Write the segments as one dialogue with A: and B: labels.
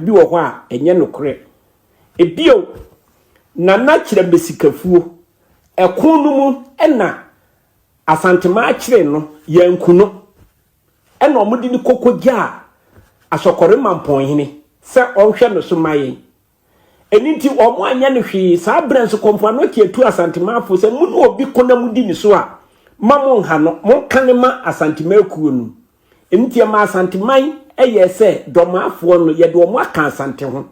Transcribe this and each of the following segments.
A: bi wɔ hɔ a ɛnyɛ nokorɛ. Bio, Nana kyerɛ Mesikafuo. Ɛko no mu na Asantemaa kyeree no, yɛanku no. Ɛna wɔde no kɔkɔgyaa Asɔkɔre Mampɔnhene sɛ ɔnhwɛ no so ma yɛn. Ɛno nti wɔanyɛ no hwee. Saa berɛ nso Kɔmfo Anokye atu Asantemaafoɔ sɛ mo ne obi ko na modi ne so a, mma monnha no, monka no ma Asantemaa kuo no. Nti ɛmaa Asanteman yɛɛ sɛ Dɔmaafoɔ no yɛde wɔn aka Asante ho.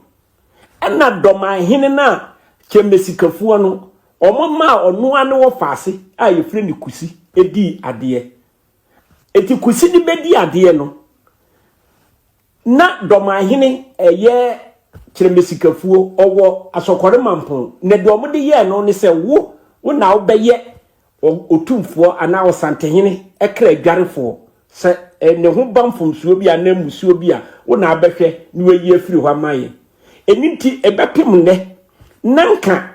A: Ɛna Dɔmaahene no a Kyɛmmɛsikafoɔ no, wɔmaa ɔno ara ne wɔfaase a yɛfrɛ no Kusi dii adeɛ. Eti Kusi de bɛdi adeɛ no, Na Dɔmahene yɛ Kyerɛmesikafuo, ɔwɔ Asɔkɔre Mampon, na deɛ wɔde yɛɛ no ne sɛ wo, wo na wobɛyɛ Otumfoɔ anaa Ɔsantehene kra adwarefoɔ, sɛ ne ho ba mfomsoɔ bi anaa mmusuo bi a, wo na wobɛhwɛ na woayi afiri hɔ ama yɛn. Ɛno nti, ɛbɛpem nnɛ, na anka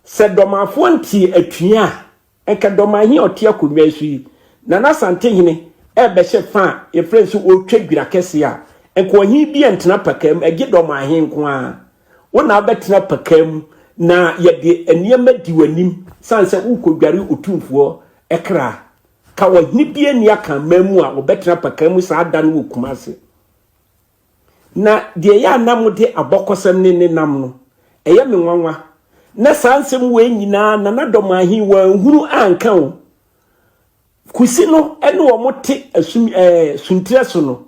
A: sɛ Dɔmafoɔ ntee atua a, Anka Dɔmahene a ɔte akonnwa yi so yi, Nana Asantehene, rebɛhyɛ fã a yɛfrɛ no sɛ ɔretwa dwira kɛseɛ a, anka ɔhene bi antena pakaa mu, ɛgye Dɔmahene nko ara. Wo na wobɛtena pakaa mu na yɛde nneɛma di w'anim sane sɛ worekɔdware Otumfoɔ kra. Ka ɔhene biara nni Akanman mu a ɔbɛtena pakaa mu saa da no wɔ Kumase. Na deɛ ɛyɛ a na mode abɔkɔsɛm ne ne nam no, ɛyɛ me nwanwa. Na saa nsɛm wei nyinaa Nana Domaa he wanhunu anka o. Kusi no ne wɔn te asum ɛɛ suntirɛ so no,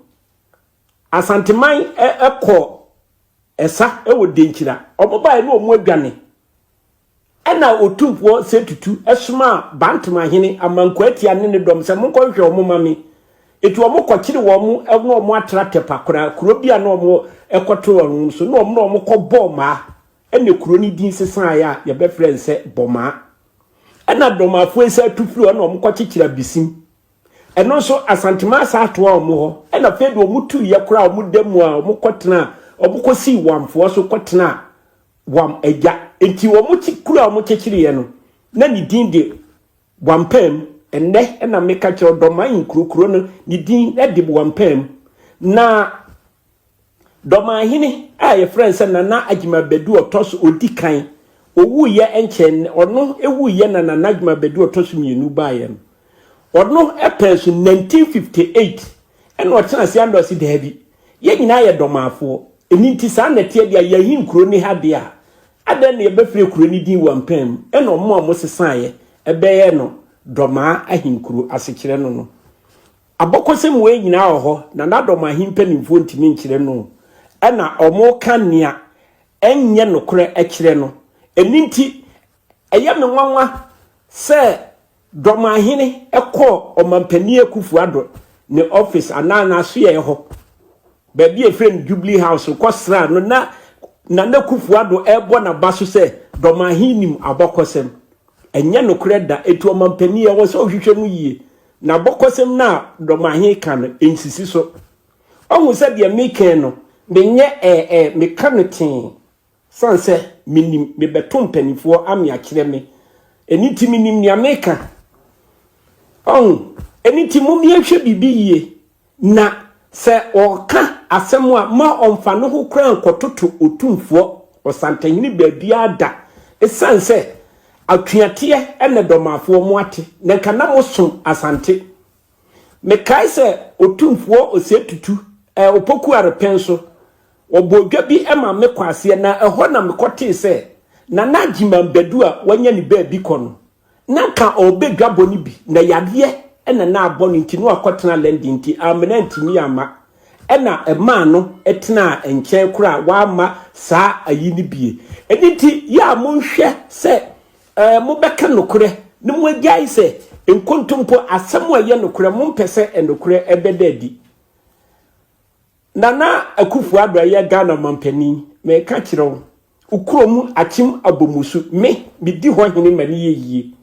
A: Asanteman ɛ ɛkɔɔ ɛsa wɔ Denkyira. Wɔn baeɛ ne wɔn adwane. Ɛnna Otumfoɔ Setutu somaa Bantemahene Amankoatia ne ne dɔm sɛ, Monkɔhwehwɛ wɔn mma me. Enti wɔkɔkyeree wɔn na wɔatra Tɛpakora, kuro bi a na wɔkɔto wɔn no so, na wɔne wɔn kɔbɔɔ mmaa. Ɛnna kuro no din sesaeɛ a yɛbɛfrɛ no sɛ Bɔmaa. Ɛnna dɔm afoe san tu firii hɔ na wɔkɔkyekyeree Abisim. Ɛno nso, Asantemaa san toaa wɔn hɔ. Ɛnna afei de wɔtuiɛ koraa a wɔda mu a wɔkɔtenaa, wɔkɔsii Wamfoɔ so kɔtenaa wɔn agya. Enti wɔn ti kuru a wɔkyekyereyɛ no, na ne din de Wampam. Ɛnnɛ na meka kyerɛ wo, Dɔman nkuro kuro no, ne din de Wampam. Na Dɔmanhene a yɛfrɛ no sɛ Nana Agyima Badu ɔtɔ so ɔdi kan, ɔwuiɛ nkyɛn, ɔno wuiɛ na Nana Agyima Badu ɔtɔ so mmienu baeɛ no, ɔno pɛɛ so 1958. Ɛna ɔtena ase ana ɔse daabi yɛn nyinaa yɛ dɔmaafoɔ ɛni nti saa na ɛteɛ deɛ yɛn he kuro ne ha deɛ a adɛn na yɛbɛfrɛ kuro no din wampaa mu ɛna ɔmo a ɔmo sesaaeɛ ɛbɛyɛɛ no dɔmaa ahenkuro asekyerɛ no no abɔkɔsɛm wei nyinaa wɔ hɔ na n'adɔmaa he mpanimfoɔ ntumi nkyerɛ no ɛna ɔmo ka nea ɛnyɛ nokorɛ ɛkyerɛ no ɛni nti Ɛyɛ me nwanwa sɛ Dɔmahene kɔɔ Ɔmampanin Akufo-Addo ne office anaa n'asoɛeɛ hɔ, baabi a yɛfrɛ no Jubilee House, kɔsraa no na Nana Akufo-Addo rebɔ n'aba so sɛ Dɔmahene nim abɔkɔsɛm. Ɛnyɛ nokorɛ da, enti Ɔmampanin ɛwɔ sɛ wohwehwɛ mu yie na abɔkɔsɛm no a Dɔmahene ka no nsisi so. Woahu sɛ deɛ meka yi no, menyɛ ɛɛ ɛɛ, meka no tee. San sɛ menim me bɛto mpaninfoɔ ame akyerɛ me ɛni nti menim nea meka ɔho ɛni nti mo me ɛhwɛ biribi yie na sɛ ɔka asɛm a ma ɔmfa no ho koraa nkɔtoto otumfoɔ ɔsantahene baabiara da ɛsan sɛ atweateɛ ɛna dɔmafoɔ mo ate na nka na mo som asante Mekae sɛ Otumfoɔ Osei Tutu, eh, Opoku Arepɛn so. Wɔbɔɔ dwa bi ma me Kwaseɛ na ɛhɔ na mekɔtee sɛ Nana Agyeman Badu a wanya ne baabi kɔ no, na anka ɔrebɛ dwabɔ no bi na yareɛ na na abɔ no nti na wakɔtena London nti ammena antumi amma ɛna ɛmaa no tenaa nkyɛn koraa wamma saa ayi no bie. Ɛno nti yɛ a monhwɛ sɛ Ɛɛ, mobɛka nokorɛ na moagyae sɛ nkontompo asɛm a ɛyɛ nokorɛ, mompɛ sɛ nokorɛ ɛbɛda adi. Nana Akufo-Addo a ɛyɛ Ghana mampanin, meka kyerɛ wo, wo kuro mu akyem abɔmusu, me, medi hɔ hene ma no yɛ yie.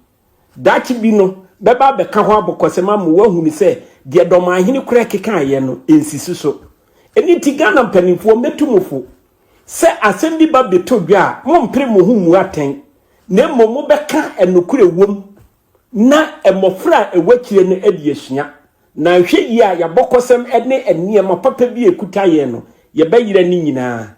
A: Daakye bi no, bɛba abɛka hɔ abɔkɔsɛm ama wo ahunu sɛ deɛ Dɔmanhene koraa kekaeɛ no, ɛnsisi so. Ɛno nti Ghana mpanimfoɔ, mɛtu mo fo, Sɛ asɛm bi ba beto dwa a, mompere mo ho mmu atɛn, na mmom mobɛka a nokorɛ wom na mmɔfra a ɛwɔ akyire no adi asua. Na nhwɛ yie a, yɛabɔ kɔsɛm ne nneɛma papa bi a ɛkuta yɛn no, yɛbɛyera ne nyinaa.